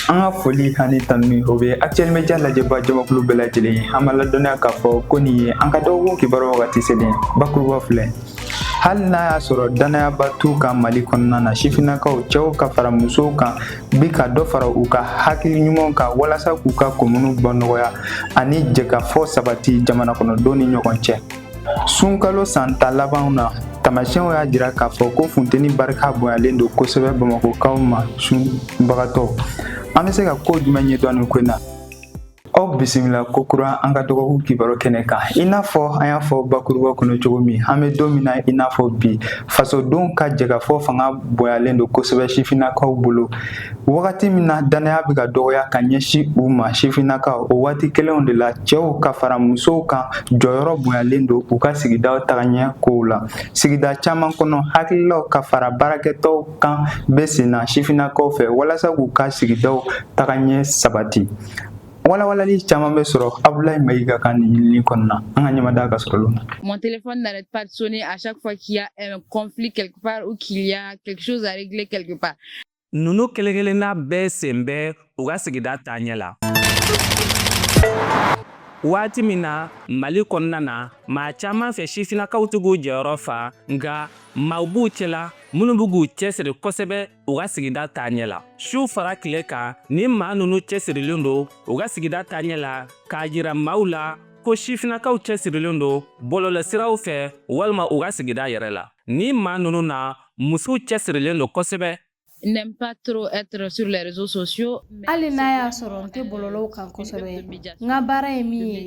an ka foli ani tanuni o bɛ actuel media lajɛba jamakulu bɛɛ lajɛlen ye an b'a ladɔnniya k'a fɔ ko nin ye an ka dɔgɔkun kibaru wagati selen bakuruba filɛ hali n'a y'a sɔrɔ dannayaba t'u kan mali kɔnɔna na sifinnakaw cɛw ka fara musow kan bi ka dɔ fara u ka hakili ɲumanw kan walasa k'u ka komunu bɔ nɔgɔya ani jɛkafɔ sabati jamana kɔnɔdenw ni ɲɔgɔn cɛ sunkalo san tan labanw na tamasiyɛnw y'a jira k'a fɔ ko funteni barika bonyalen don kosɛbɛ bamakɔkaw ma sunbagatɔ an bɛ se ka ko jumɛn ɲɛdɔn nin ko in na aw bisimila kokura an ka dɔgɔkun kibaru kɛnɛ kan i n'a fɔ an y'a fɔ bakuruba kɔnɔ cogo min an bɛ don min na i n'a fɔ bi fasodenw ka jɛkafɔ fanga bonyalen don kosɛbɛ sifinnakaw bolo Wagati min na dannaya bɛ ka dɔgɔya ka ɲɛsin u ma sifinnakaw o waati kelenw de la cɛw ka fara musow kan jɔyɔrɔ bonyalen don u ka sigidaw taga ɲɛ kow la sigida caman kɔnɔ hakililaw ka fara baarakɛtɔw kan bɛ sen na sifinnakaw fɛ walasa k'u ka sigidaw taga ɲɛ sabati Walawalali caman bɛ sɔrɔ Abulayi Mayiga ka nin ɲinini kɔnɔna an ka ɲɛmada ka sɔrɔ na. Mon téléphone n'arrête pas de sonner à chaque fois qu'il y a un conflit quelque part ou qu'il y a quelque chose à régler quelque part. Ninnu kelenkelenna bɛɛ sen bɛ u ka sigida taaɲɛ la. Waati min na Mali kɔnɔna na maa caman fɛ sifinnakaw tɛ k'u jɔyɔrɔ fa, nka maaw b'u cɛla minnu bɛ k'u cɛsiri kosɛbɛ u ka sigida taaɲɛ la. Su fara tile kan, nin maa ninnu cɛsirilen don u ka sigida taaɲɛ la k'a jira maaw la ko sifinnakaw cɛsirilen don bɔlɔlɔsiraw fɛ walima u ka sigida yɛrɛ la. Nin maa ninnu na musow cɛsirilen don kosɛbɛ n'aime pas trop être sur les réseaux sociaux hali n'a y'a sɔrɔ n tɛ bɔlɔlɔw kan kosɛbɛ n ka baara ye min ye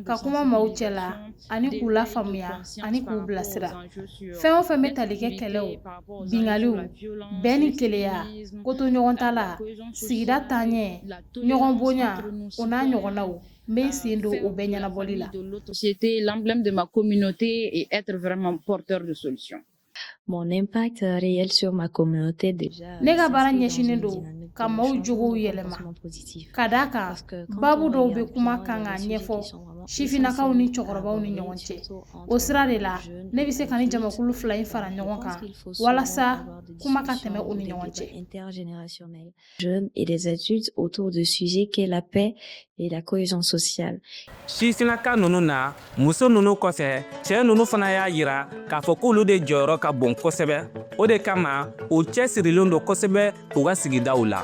ka kuma maaw cɛ la ani k'u lafaamuya ani k'u bilasira fɛn o fɛn bɛ tali kɛ kɛlɛw binkaliw bɛn ni kelenya kotoɲɔgɔntala sigida taaɲɛ ɲɔgɔn bonya o n'a ɲɔgɔnnaw n bɛ n sen don o bɛɛ ɲɛnabɔli la Mon impact euh, réel sur ma communauté déjà. Euh, ne ka baara ɲɛsinnen don ka maaw jogow yɛlɛma ka d'a kan baabu dɔw bɛ kuma kan k'a ɲɛfɔ sifinnakaw ni cɛkɔrɔbaw ni ɲɔgɔn cɛ o sira de la ne bɛ se ka nin jamakulu fila in fara ɲɔgɔn kan walasa kuma ka tɛmɛ u ni ɲɔgɔn cɛ jeunes et des adultes autour de sujets qu'est la paix et la cohésion sociale. Sifinnaka ninnu na muso ninnu kɔfɛ cɛ ninnu fana y'a yira k'a fɔ k'olu de jɔyɔrɔ ka bon kosɛbɛ o de kama u cɛsirilen don kosɛbɛ u ka sigidaw la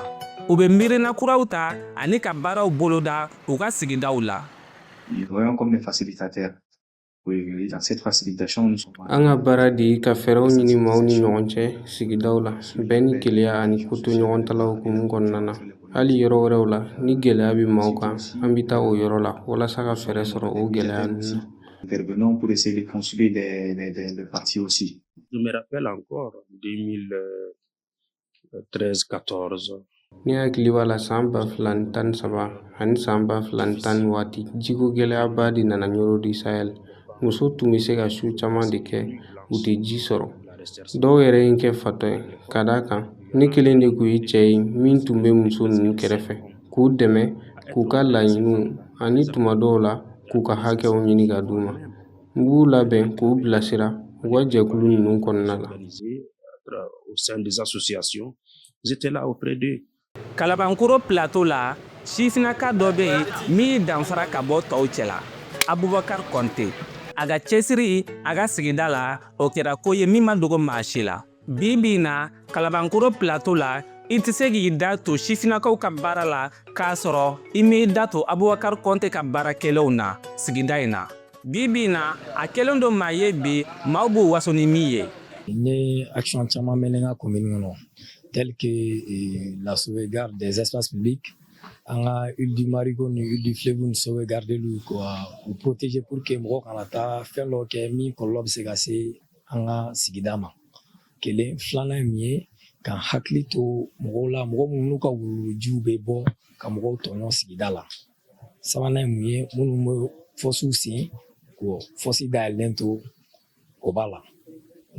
u bɛ miirina kuraw ta ani ka baaraw boloda u ka sigidaw la. Ils voyons comme des facilitateurs. An ka baara de ye ka fɛɛrɛw ɲini maaw ni ɲɔgɔn cɛ sigidaw la bɛn ni kelenya ani kotoɲɔgɔntala hukumu kɔnɔna na hali yɔrɔ wɛrɛw la ni gɛlɛya bɛ maaw kan an bɛ taa o yɔrɔ la walasa ka fɛɛrɛ sɔrɔ o gɛlɛya ninnu na intervenons pour essayer de construire des, des, des, des parties aussi. Je me rappelle encore 2000, 13 14 Ne hakili b'a la san ba fila ni tan ni saba ani san ba fila ni tan ni naani waati jiko gɛlɛyaba de nana ɲɔrɔ di sahɛl muso tun bɛ se ka su caman de kɛ u tɛ ji sɔrɔ dɔw yɛrɛ ye n kɛ fatɔ ye ka d'a kan ne kelen de tun ye cɛ ye min tun bɛ muso ninnu kɛrɛfɛ k'u dɛmɛ k'u ka laɲiniw ani tuma dɔw la k'u ka hakɛw ɲini ka d'u ma N b'u labɛn k'u bilasira u ka jɛkulu ninnu kɔnɔna la kalabankoro plateau la sifinnaka dɔ bɛ yen min y'i danfara ka bɔ tɔw cɛ la abubakari kɔnte a ka cɛsiri a ka sigida la o kɛra ko ye min ma dogo maa si la Bi bi in na kalabankoro plateau la i tɛ se k'i da to sifinnakaw ka baara la k'a sɔrɔ i m'i da to abubakari kɔnte ka baara kɛlenw na sigida in na bi bi in na a kɛlen don maa ye bi maaw b'u waso ni min ye n ye action caman mener n ka commune kɔnɔ tel que eh, la sauvegarde des espaces publics an ka île du marigot ni île du fleuve ni sauvegarde lu ka u protéger pour que mɔgɔ kana taa fɛn dɔ kɛ min kɔlɔlɔ bɛ se ka se an ka sigida ma kelen filanan ye mun ye k'an hakili to mɔgɔw la mɔgɔ minnu ka wuluwulujiw bɛ bɔ ka mɔgɔw tɔɲɔ sigida la sabanan ye mun ye minnu bɛ fɔsiw sen k'o fɔsi dayɛlɛlen to o b'a la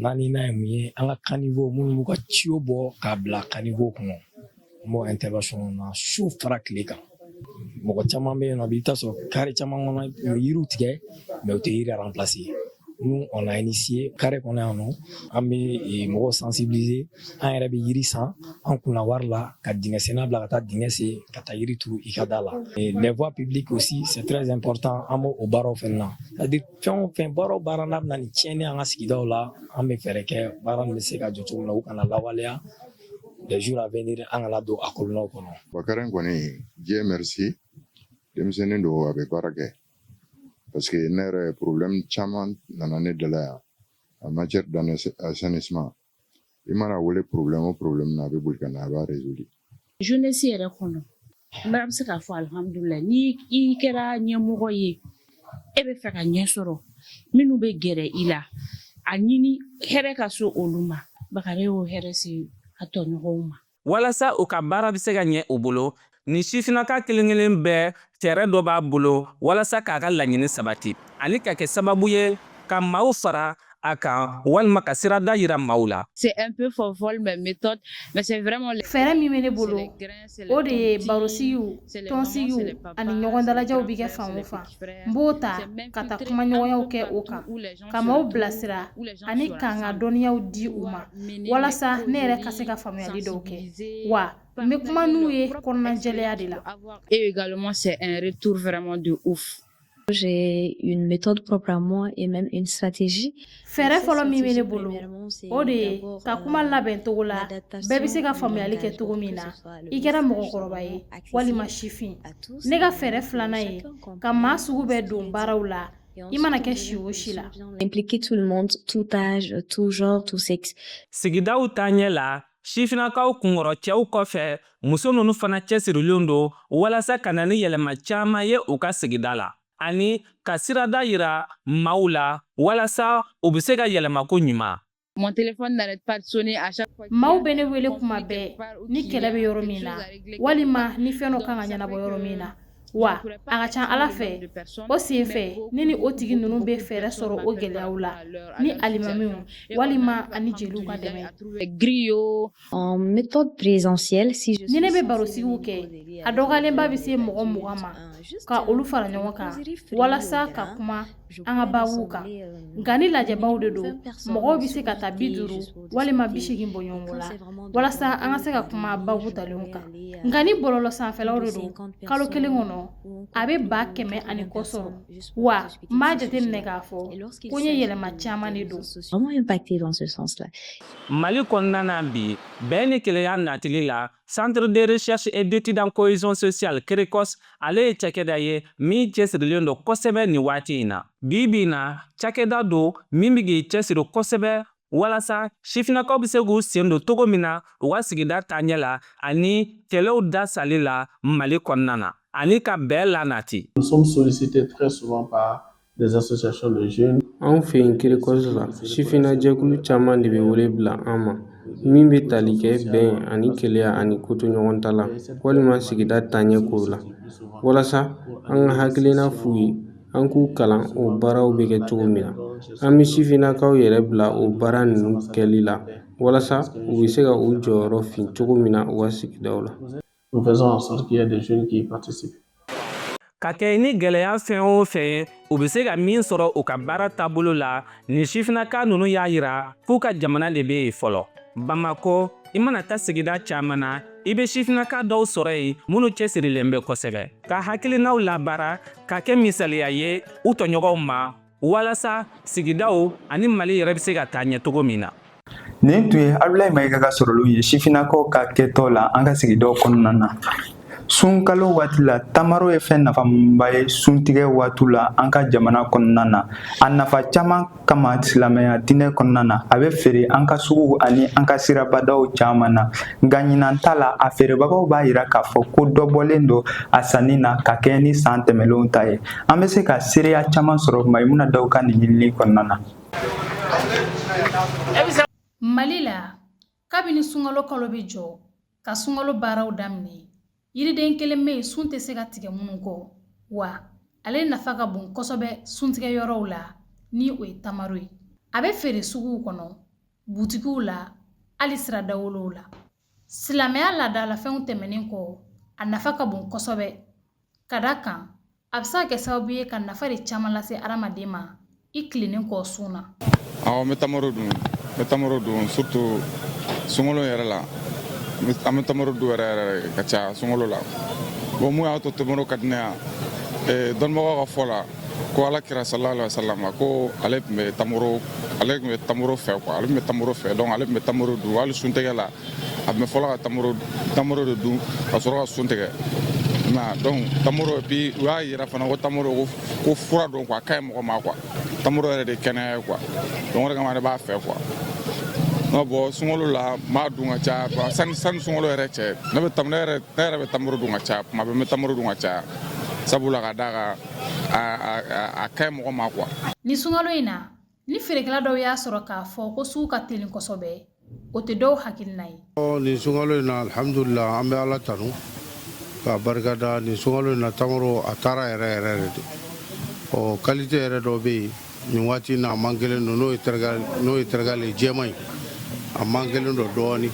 naaninan ye mun ye an ka caniveau minnu b'u ka tuyau bɔ k'a bila caniveau kɔnɔ n b'o intervention kɔnɔ na su fara tile kan mɔgɔ caman bɛ yen nɔ i bɛ taa sɔrɔ carré caman kɔnɔ u bɛ yiriw tigɛ mais u tɛ yiri remplacer nous on a initié carré kɔnɔ yan nɔ an bɛ eh, mɔgɔw sensibiliser an yɛrɛ bɛ yiri san an kunna wari la ka dingɛsenna bila ka taa dingɛ sen ka taa yiri turu i ka da la eh, les voies publiques aussi c'est très important an b'o baaraw fɛnɛ na c'est à dire fɛn o fɛn baara o baara n'a bɛ na ni tiɲɛni an ka sigidaw la an bɛ fɛɛrɛ kɛ baara nin bɛ se ka jɔ cogo min na u kana lawaleya les jours à venir an kana don a kɔlɔlɔw kɔnɔ bakari kɔni Dieu merci denmisɛnnin don a bɛ baara kɛ parce que ne yɛrɛ problème caman nana ne da la yan en matière d'assainissement i man'a wele problème o problème na a bɛ boli ka na a b'a résoudre jeunesse yɛrɛ kɔnɔ N bɛ se k'a fɔ alihamdulila n'i kɛra ɲɛmɔgɔ ye e bɛ fɛ ka ɲɛ sɔrɔ minnu bɛ gɛrɛ i la a ɲini hɛrɛ ka se olu ma baga y'o hɛrɛ se a tɔɲɔgɔnw ma walasa u ka baara bɛ se ka ɲɛ u bolo ni sifinaka kelenkelen bɛɛ fɛɛrɛ dɔ b'a bolo walasa k'a ka laɲini sabati ani ka kɛ sababu ye ka maaw fara a kan walima ka sirada yira maaw la. C'est un peu folle mes méthodes mais c'est vraiment fɛɛrɛ min bɛ ne bolo o de ye barosigiw tɔnsigiw ani ɲɔgɔn dalajɛw bɛ kɛ fan o fan n b'o ta ka taa kumaɲɔgɔnyaw kɛ o kan ka maaw bilasira ani ka n ka dɔnniyaw di u ma walasa ne yɛrɛ ka se ka faamuyali dɔw kɛ wa n bɛ kuma n'u ye kɔnɔnajɛlenya de la. Et également c'est un retour vraiment de ouf. J'ai une méthode propre à moi et même une stratégie. Fɛɛrɛ fɔlɔ min bɛ ne bolo, o de ye ka kuma euh, labɛn cogo la, bɛɛ bɛ se ka faamuyali kɛ cogo min na, i kɛra mɔgɔkɔrɔba ye walima sifin. Ne ka fɛɛrɛ filanan ye ka maa sugu bɛɛ don baaraw la. I mana kɛ si o si la. Impliquer tout le monde, tout âge, tout genre, tout sexe. Sigidaw taaɲɛ la, Sifinnakaw kunkɔrɔ cɛw kɔfɛ muso ninnu fana cɛsirilen don walasa ka na ni yɛlɛma caman ye u ka sigida la ani ka sirada yira maaw la walasa u bɛ se ka yɛlɛma ko ɲuman Mon téléphone n'arrête pas de sonner à chaque fois. Maaw bɛ ne wele kuma bɛɛ ni kɛlɛ bɛ yɔrɔ min na walima ni fɛn dɔ kan ka ɲɛnabɔ yɔrɔ min na. Wa a ka ca Ala fɛ o sen fɛ ne ni o tigi ninnu bɛ fɛɛrɛ sɔrɔ o gɛlɛyaw la ni alimamiw walima ani jeliw ka dɛmɛ griots en méthode présentielle si ni ne bɛ barosigiw kɛ a dɔgɔyalenba bɛ se mɔgɔ mugan ma ka olu fara ɲɔgɔn kan walasa ka kuma an ka baabuw kan nka ni lajɛbaw de don mɔgɔw bɛ se ka taa bi duuru walima bi seegin bɔɲɔgɔnko la walasa an ka se ka kuma baabu talenw kan nka ni bɔlɔlɔ sanfɛlaw de don kalo kelen kɔnɔ a bɛ ba kɛmɛ ani kɔ sɔrɔ wa n b'a jateminɛ k'a fɔ ko n ye yɛlɛma caman de don vraiment impacté dans ce sens-là Mali kɔnɔna na bi bɛn ni kelenya natili la Centre de recherche et d'études en cohésion sociale CRECOS ale ye cakɛda ye min cɛsirilen don kosɛbɛ nin waati in na. Bi bi in na, cakɛda don min bɛ k'i cɛsiri kosɛbɛ walasa sifinnakaw bɛ se k'u sen don cogo min na u ka sigida taaɲɛ la ani kɛlɛw dasali la Mali kɔnɔna na ani ka bɛn lanati. Nous sommes sollicités très souvent par Anw fɛ yen CRECOS la sifinna jɛkulu caman de bɛ wele bila an ma min bɛ tali kɛ bɛn ani kelenya ani kotoɲɔgɔntala walima sigida taaɲɛ kow la walasa an ka hakilina f'u ye an k'u kalan o baaraw bɛ kɛ cogo min na an bɛ sifinnakaw yɛrɛ bila o baara ninnu kɛli la walasa u bɛ se ka u jɔyɔrɔ fin cogo min na u ka sigidaw la Nous faisons en sorte qu'il y ait des jeunes qui y participent. ka kɛ ni gɛlɛya fɛn o fɛn u bɛ se ka min sɔrɔ u ka baara taabolo la ni sifinnaka ninnu y'a yira k'u ka jamana de bɛ yen fɔlɔ bamakɔ i mana taa sigida caman na i bɛ sifinnaka dɔw sɔrɔ yen minnu cɛsirilen bɛ kosɛbɛ ka hakilinaw labaara ka kɛ misaliya ye u tɔɲɔgɔnw ma walasa sigidaw ani mali yɛrɛ bɛ se ka taa ɲɛ cogo min na nin tun ye abulayi mayiga ka sɔrɔlenw ye sifinnakaw ka kɛtɔ la an ka sigidaw kɔnɔna na sunkalo waati la tamaro ye fɛn nafaba ye suntigɛ waati la an ka jamana kɔnɔna na a nafa caman kama silamɛya diinɛ kɔnɔna na a bɛ feere an ka suguw ani an ka sirabadaw caman na nka ɲinan ta la a feerebagaw b'a yira k'a fɔ ko dɔ bɔlen don a sanni na ka kɛɲɛ ni san tɛmɛlenw ta ye An bɛ se ka seereya caman sɔrɔ Mayimuna Dawu ka nin ɲinini kɔnɔna na. Mali la, kabini sunkalo kalo bɛ jɔ ka sunkalo baaraw daminɛ, yiriden kelen bɛ yen sun tɛ se ka tigɛ minnu kɔ, wa ale nafa ka bon kosɛbɛ suntigɛ yɔrɔw la ni o ye tamaro ye. A bɛ feere suguw kɔnɔ, butikiw la, hali sira dawolow la. Silamɛya laadalafɛnw tɛmɛnen kɔ, a nafa ka bon kosɛbɛ. Ka da kan a bɛ se ka kɛ sababu ye ka nafa de caman lase adamaden ma i tilennen kɔ sun na awɔ n bɛ tamaro dun bɛ tamaro dun surtout sunkalo yɛrɛ la an bɛ tamaro dun yɛrɛ yɛrɛ ka caya sunkalo la bon mun y'a to tamaro ka di ne ye dɔnnibagaw ka fɔ la ko ala kira sallallahu alayhi wasallam ko ale tun bɛ ale tun bɛ tamaro fɛ ale tun bɛ tamaro fɛ donc ale tun bɛ tamaro dun hali suntigɛ la a tun bɛ fɔlɔ ka tamaro tamaro de dun ka sɔrɔ ka sun tigɛ donc tamaro et puis u y'a yira fana ko tamaro ko ko fura don quoi a ka ɲi mɔgɔ ma quoi tamaro yɛrɛ de kɛnɛya ye quoi donc o de kama ne b'a fɛ quoi nka bon sunkalo la n b'a dun ka caya quoi sani sani sunkalo yɛrɛ cɛ ne bɛ tam ne yɛrɛ ne yɛrɛ bɛ tamaro dun ka caya tuma bɛɛ n bɛ tamaro dun ka caya sabula ka d'a kan a a a a ka ɲi mɔgɔ ma quoi. Ni sunkalo in na ni feerekɛla dɔw y'a sɔrɔ k'a fɔ ko sugu ka teli kosɛbɛ o tɛ dɔw hakilina ye nin sunkalo in na alhamdulila an bɛ ala tanu k'a barika da nin sunkalo in na tamaro a taara yɛrɛ yɛrɛ yɛrɛ de ɔ qualité yɛrɛ dɔ bɛ yen nin waati na a mankelen don n'o ye tɛrɛga n'o ye tɛrɛgale jɛman ye a mankelen don dɔɔnin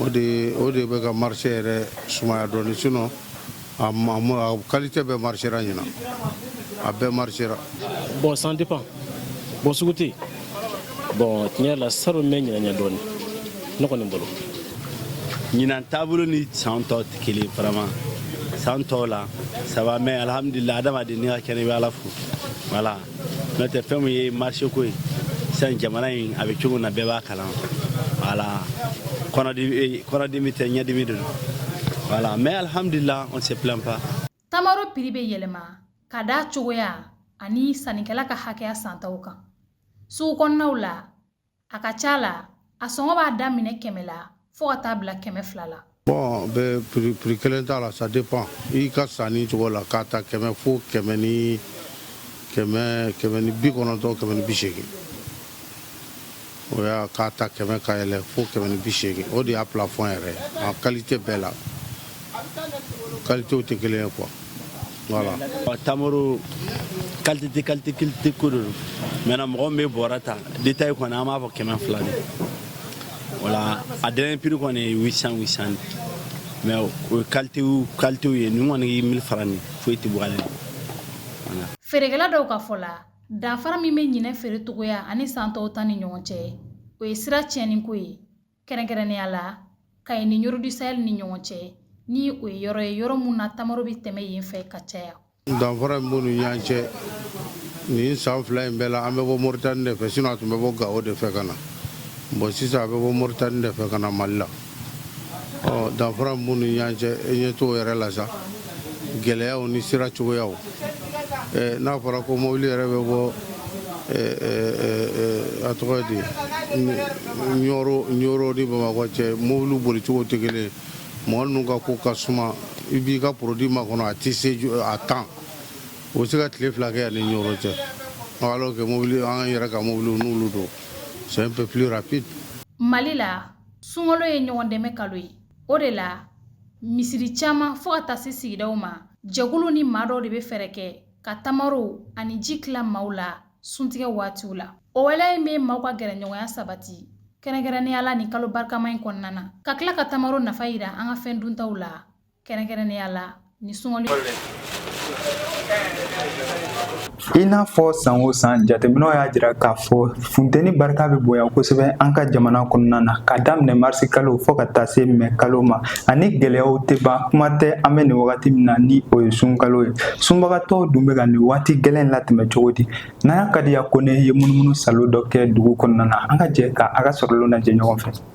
o de o de bɛ ka marché yɛrɛ sumaya dɔɔnin sinon kalilite bɛ mari ɲɛna a bɛɛ mari bɔn san tɛ pan bɔn sugu tɛ bɔn tiɲɛ la sa bɛ ɲ dɔɔnin ne kɔni bolo ɲinan taabolo ni san tɔ tɛ kelen farama san tɔw la saba mɛ alihamdulila adama ni ka kɛnɛ bɛ ala fo wala n'o tɛ fɛn min ye marché ko ye sisan jamana in a bɛ cogo min na bɛɛ b'a kalama voilà kɔnɔdimi tɛ ɲɛdimi de don voilà mais alhamdulillah on se plaint pas tamaro prix bɛ yɛlɛma ka d'a cogoya ani sannikɛla ka hakɛya santaw kan sugu kɔnɔnaw la a ka ca la a sɔngɔ b'a daminɛ kɛmɛ la fɔɔ ka taa bila kɛmɛ fila la bon prix kelen t'a la ça dépend i ka sanni cogo la k'a ta kɛmɛ fo kɛmɛ ni bi kɔnɔntɔn kɛmɛ ni bi seegin o y'a k'a ta kɛmɛ ka yɛlɛ fo kɛmɛ ni bi seegin o de y'a plafond yɛrɛ ye a qualité bɛɛ la kalitew tɛ kelen ye quoi voilà tamaro kalite ko de don maintenant mɔgɔ min bɛ bɔrɛ ta détail kɔni an b'a fɔ kɛmɛ fila de voilà a dernier prix kɔni ye 800 mais o ye kalite ye nin kɔni ye mille francs nin foyi tɛ bɔ ale la voilà feerekɛla dɔw ka fɔ la danfara min bɛ ɲinɛ feerecogoya ani san tɔw ta ni ɲɔgɔn cɛ o ye sira tiɲɛniko ye kɛrɛnkɛrɛnnenya la kayi ni ɲɔro du sahel ni ɲɔgɔn cɛ ni o ye yɔrɔ ye yɔrɔ mun na tamaro bɛ tɛmɛ yen fɛ ka caya danfara min b'u ni ɲɔgɔn cɛ nin san fila in bɛɛ la an bɛ bɔ moritani de fɛ sinon a tun bɛ bɔ gawo de fɛ ka na bon sisan a bɛ bɔ moritani de fɛ ka na mali la danfara min b'u ni ɲɔgɔn cɛ e ɲɛ t'o yɛrɛ la sa gɛlɛyaw ni sira cogoyaw n'a fɔra ko mobili yɛrɛ bɛ bɔ a tɔgɔ di ɲɔro ni bamakɔ cɛ mobili bolicogo tɛ kelen mɔgɔ ninnu ka ko ka suma i b'i ka produit makɔnɔ a tɛ se à temps o se ka tile fila kɛ yan ni ɲɔro cɛ alors que mobili an yɛrɛ ka mobili n'olu don c'est un peu plus rapide mali la sunkalo ye ɲɔgɔn dɛmɛ kalo ye o de la misiri caman fɔɔ ka taa se sigidaw ma jɛkulu ni maa dɔw de be fɛɛrɛ kɛ ka tamaro ani ji tila maaw la suntigɛ waatiw la o waleya in be maaw ka gɛrɛɲɔgɔnya sabati kɛrɛnkɛrɛnnenya la nin kalo barikama in kɔnɔna na ka tila ka tamaro nafa yira an ka fɛn duntaw la kɛrɛnkɛrɛnnenya la Ni sunkalo i n'a fɔ san o san jateminɛw y'a jira k'a fɔ funteni barika bɛ bonya kosɛbɛ an ka jamana kɔnɔna na ka daminɛ marisi kalo fɔɔ ka taa se mɛ kalo ma ani gwɛlɛyaw tɛ ban kuma tɛ an bɛ nin wagati min na ni o ye sunkalo ye sunbagatɔw dun bɛ ka nin waati gwɛlɛn latɛmɛ cogo di Nana Kadiya Kɔnɛ ye munumunu saalo dɔ kɛ dugu kɔnɔna na an ka jɛ ka a ka sɔrɔlenw lajɛ ɲɔgɔn fɛ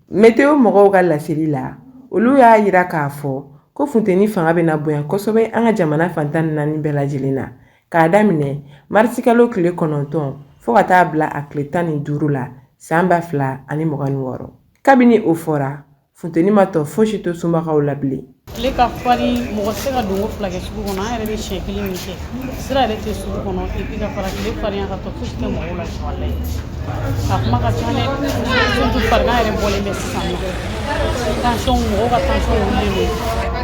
Météo mɔgɔw ka laseli la olu y'a yira k'a fɔ ko funteni fanga bɛna bonya kosɛbɛ an ka jamana fan tan ni naani bɛɛ lajɛlen na k'a daminɛ marisikalo tile kɔnɔntɔn fo ka taa bila a tile tan ni duuru la san ba fila ani mugan ni wɔɔrɔ kabini o fɔra funteni ma tɔ foyisi to sunbagaw la bilen tile ka fari mɔgɔ tɛ se ka donko fila kɛ sugu kɔnɔ an yɛrɛ bɛ siɲɛ kelen min kɛ sira yɛrɛ tɛ sugu kɔnɔ epi ka fara tile farinya kan tɔ fosi tɛ mɔgɔw la walayi a kuma ka ca dɛ surtout farigan yɛrɛ bɔlen bɛ sisan nɔ tansiyɔn mɔgɔw ka tansiyɔn wulilen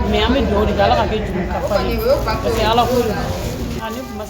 don mɛ an bɛ dugawu de kɛ ala k'a kɛ jurumu kafari ye parce que ala ko don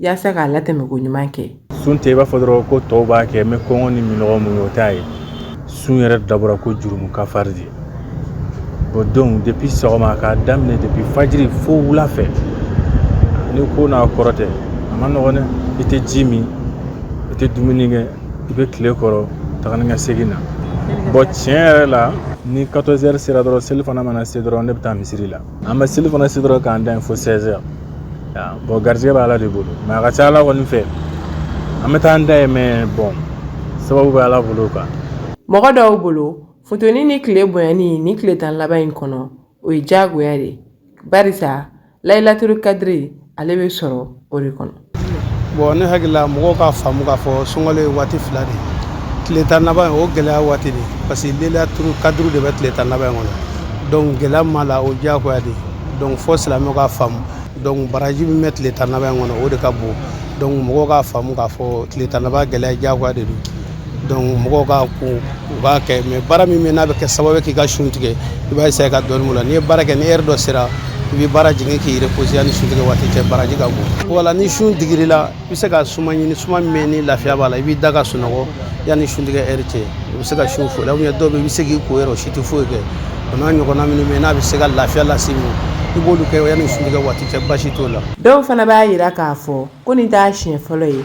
yaasa k'a latɛmɛ ko ɲuman kɛ sun tɛ i b'a fɔ dɔrɔn ko tɔw b'a kɛ mɛ kɔngɔ ni minnɔgɔ muɲu o t'a ye sun yɛrɛ dabɔra ko jurumu kafari de bɔn donc depi sɔgɔma k'a daminɛ depi fajiri fo wula fɛ ni ko n'a kɔrɔ tɛ a ma nɔgɔn dɛ i tɛ ji min i tɛ dumuni kɛ i bɛ tile kɔrɔ taga ni ka segin na bɔn tiɲɛ yɛrɛ la ni 14 heures sera dɔrɔn selifana mana se dɔrɔn ne bɛ taa misiri la an bɛ selifana seli dɔrɔn k'an da yen fo 16 heures bɔn garijɛgɛ bɛ ala de bolo mɛ a ka ca ala kɔni fɛ an bɛ taa an da yen mɛ bɔn sababu bɛ ala bolo kan mɔgɔ dɔw bolo funteni ni tile bonyani nin tile tan laban in kɔnɔ o ye diyagoya de barisa layilaturu kadiri ale bɛ sɔrɔ o de kɔnɔ bɔn ne hakilila mɔgɔw k'a faamu k'a fɔ sunkalo ye waati fila de ye tile tan laban o gɛlɛya waati de parce que layilaturu kadiri de bɛ tile tan laban kɔnɔ donc gɛlɛya min b'a la o diyagoya de donc fo silamɛw k'a faamu donc baraji min bɛ tile tan laban kɔnɔ o de ka bon donc mɔgɔw k'a faamu k'a fɔ tile tan laban gɛlɛya diyagoya de don donc mɔgɔw ka kan u b'a kɛ mais baara min bɛ n'a bɛ kɛ sababu k'i ka sun tigɛ i b'a essayer ka dɔɔnin b'o la n'i ye baara kɛ ni heure dɔ sera i bɛ baara jigin k'i reposer yanni sun tigɛ waati cɛ baraji ka bon voilà ni sun digir'i la i bɛ se ka suma ɲini suma min bɛ yen ni lafiya b'a la i b'i da ka sunɔgɔ yanni sun tigɛ heure cɛ i bɛ se ka sun fo la ou bien dɔw bɛ yen i bɛ se k'i ko yɛrɛ o si tɛ foyi kɛ o n'a ɲɔgɔnna minnu bɛ yen n'a bɛ se ka lafiya lase i ma i b'olu kɛ yanni sun tigɛ waati cɛ basi t'o la dɔw fana b'a jira k'a fɔ ko nin t'a siɲɛ fɔlɔ ye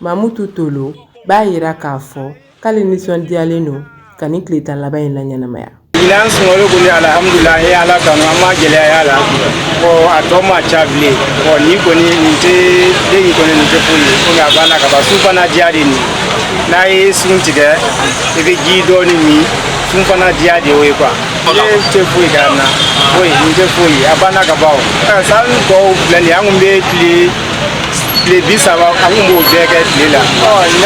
Mamutu to b'a jira k'a fɔ k'ale nisɔndiyalen don ka nin tile tan laban in na ɲɛnamaya la gɛlɛya la a tɔ ma ca bilen ni kɔni diya de n'a ye sun tigɛ i bɛ ji dɔ min sun fana diya de ye kuwa tɛ foyi na foyi tɛ foyi a banna ka baw san tɔw filɛ an tun bɛ tile tile bi saba an tun b'o bɛɛ kɛ tile la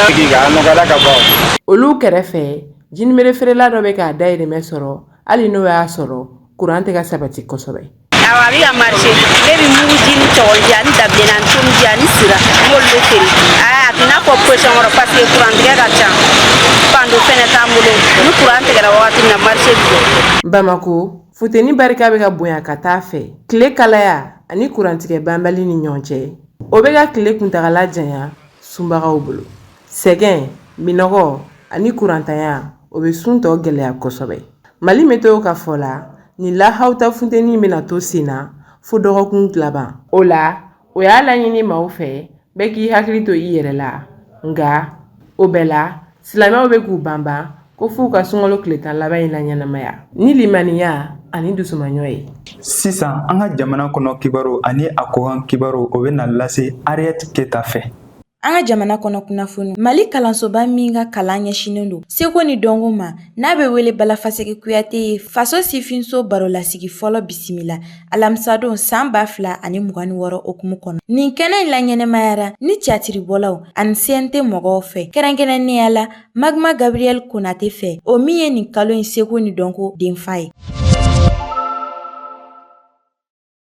sigi ka nɔgɔyara ka ban olu kɛrɛfɛ jinibere feerela dɔ bɛ k'a dayirimɛ sɔrɔ hali n'o y'a sɔrɔ kuran tɛ ka sabati kosɛbɛ awɔ a bɛ ka marché ne bɛ muguji ni cɔgɔnji ani dabileni ani tomiji ani sira n b'olu de feere a tɛ n'a fɔ position wɛrɛ parce que kuran tigɛ ka ca panneau fɛnɛ t'an bolo ni kuran tigɛra wagati min na marché bɛ jɔ bamakɔ Funteni barika bɛ ka bonya ka taa fɛ tile kalaya ani kurantigɛ banbali ni ɲɔgɔn cɛ o bɛ ka tile kuntagala janya sunbagaw bolo sɛgɛn minɔgɔ ani kurantanya o bɛ sun tɔ gɛlɛya kosɛbɛ Mali météo ka fɔ la ni lahaw ta funteni bɛna to sen na fo dɔgɔkun laban o la o y'a laɲini maaw fɛ bɛɛ k'i hakili to i yɛrɛ la nka o bɛɛ la silamɛw bɛ k'u banban ko f'u ka sunkalo tile tan laban in laɲɛnamaya ni limaniya ani dusumaɲɔ ye sisan an ka jamana kɔnɔ kibaru ani a kɔkan kibaru o bɛna lase Ariette Keta fɛ An ka jamana kɔnɔ kunnafoni mali kalansoba min ka kalan ɲɛsinnen don seko ni dɔnko ma n'a bɛ wele Bala Faseke Kuyate ye faso sifinso barolasigi fɔlɔ bisimila alamisadon san ba fila ani mugan ni wɔɔrɔ okumu kɔnɔ nin kɛnɛ in laɲɛnamayara ni tiyatiribɔlaw ani CNT mɔgɔw fɛ kɛrɛnkɛrɛnnenya la magma gabriel Konate fɛ o min ye nin kalo in seko ni dɔnko denfa ye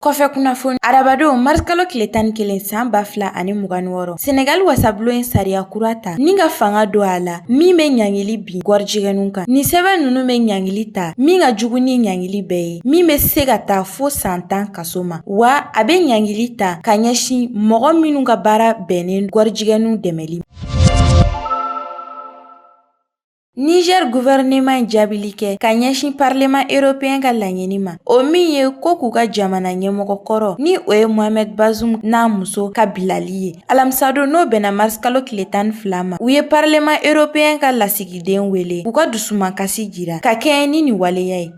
Kɔfɛ kunnafoni arabadon marisikalo tile tan ni kelen san ba fila ani mugan ni wɔɔrɔ senegali wasabulon ye sariya kura ta ni ka fanga don a la min bɛ ɲangili bin gɔrijigɛnw kan nin sɛbɛn ninnu bɛ ɲangili ta min ka jugu ni ɲangili bɛɛ ye min bɛ se ka taa fo san tan kaso ma wa a bɛ ɲangili ta ka ɲɛsin mɔgɔ minnu ka baara bɛnnen gɔrijigɛnw dɛmɛli Niger gouvernement ye jaabili kɛ ka ɲɛsin parlement européen ka laɲini ma o min ye ko k'u ka jamana ɲɛmɔgɔ kɔrɔ ni o ye Mohamed Bazoum n'a muso ka bilali ye alamisadon n'o bɛnna mars kalo tile tan ni fila ma u ye parlement européen ka lasigiden wele k'u ka dusumankasi jira ka kɛɲɛ ni nin waleya ye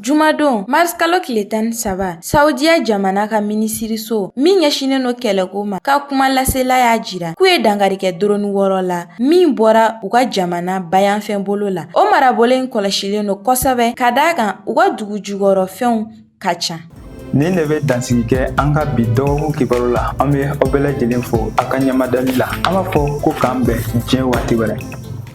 Jumadon marisikalo tile tan ni saba saudiya jamana ka minisiriso min ɲɛsinnen no kɛlɛko ma ka kumalasela y'a jira k'u ye dankari kɛ dɔrɔni wɔɔrɔ la min bɔra u ka jamana bayanfan bolo la o marabolo in kɔlɔsilen no kosɛbɛ ka d'a kan u ka dugu jukɔrɔ fɛnw ka ca nin de bɛ dansigi kɛ an ka bi dɔgɔkun kibaru la an bɛ aw bɛɛ lajɛlen fo a ka ɲɛmadali la an b'a fɔ ko k'an bɛn diɲɛ waati wɛrɛ